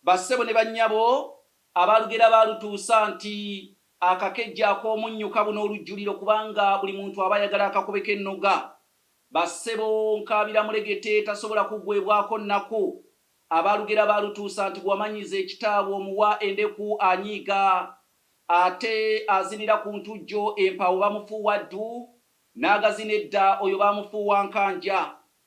bassebo ne bannyabo abaalugera baalutuusa nti akakejje ak'omunnyo kabuna olujjuliro kubanga buli muntu aba ayagala akakube k'ennoga. Bassebo nkaabira mulegete tasobola kuggwebwako nnaku. Abaalugera baalutuusa nti bw'omanyiza ekita bw'omuwa endeku anyiiga. Ate azinira ku ntujjo empaawo bamufuuwa ddu, n'agazina edda oyo baamufuuwa nkanja.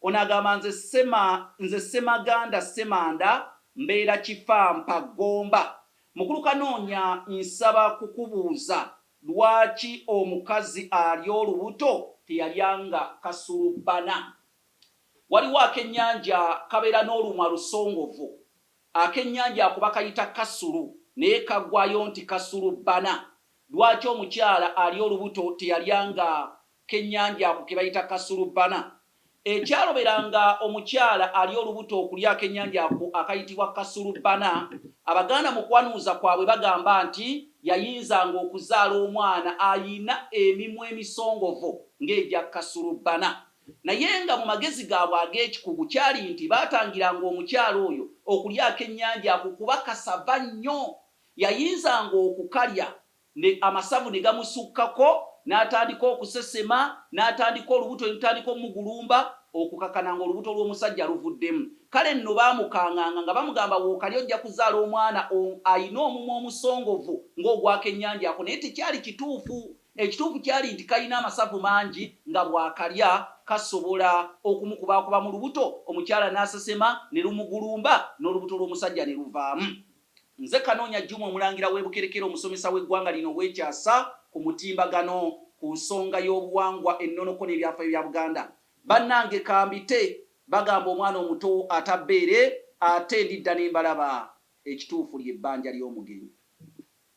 Ono agamba nze Sema nze Ssemaganda Ssemanda mbeera Kifampa Gomba. Mukulu Kanoonya nsaba kukubuuza lwaki omukazi alya olubuto teyalyanga kasulubbana? Waliwo akenyanja kabeera n'olumwa lusongovu. Akenyanja ako bakayita kasulu naye kagwayo nti kasulubbana. Lwaki omukyala alya olubuto teyalyanga k'ennyanja ako ke bayita Kasulubbana, ekyaloberanga omukyala ali olubuto okulya ak'ennyanja ako akayitibwa Kasulubbana. Abaganda mu kwanuuza kwabwe bagamba nti yayinzanga okuzaala omwana alina emimwa emisongovu ng'egya Kasulubbana. Naye nga mu magezi gaabwe ag'ekikugu kyali nti baatangiranga omukyala oyo okulya ak'ennyanja ako kuba kasava nnyo, yayinzanga okukalya ne amasavu ne gamusukkako n'atandika okusesema n'atandika olubuto ne lutandika omugulumba okukakana nga olubuto lw'omusajja luvuddemu kale nno baamukanganga nga bamugamba wookali ojja kuzaala omwana on alina omumwa omusongovu nga ogw'akennyanja ako naye tekyali kituufu ekituufu kyali nti kalina amasavu mangi nga bw'akalya kasobola okumukubaakuba mu lubuto omukyala n'asesema ne lumugulumba n'olubuto lw'omusajja ne luvaamu. Nze Kanoonya Juma Omulangira w'e Bukerekere omusomesa w'eggwanga lino ow'ekyasa ku mutimbagano ku nsonga y'obuwangwa, ennonoko n'ebyafayo bya Buganda. Bannange kambite bagamba omwana omuto ata bbeere ate ndidda ne mbalaba. Ekituufu ly'ebbanja ly'omugenyi.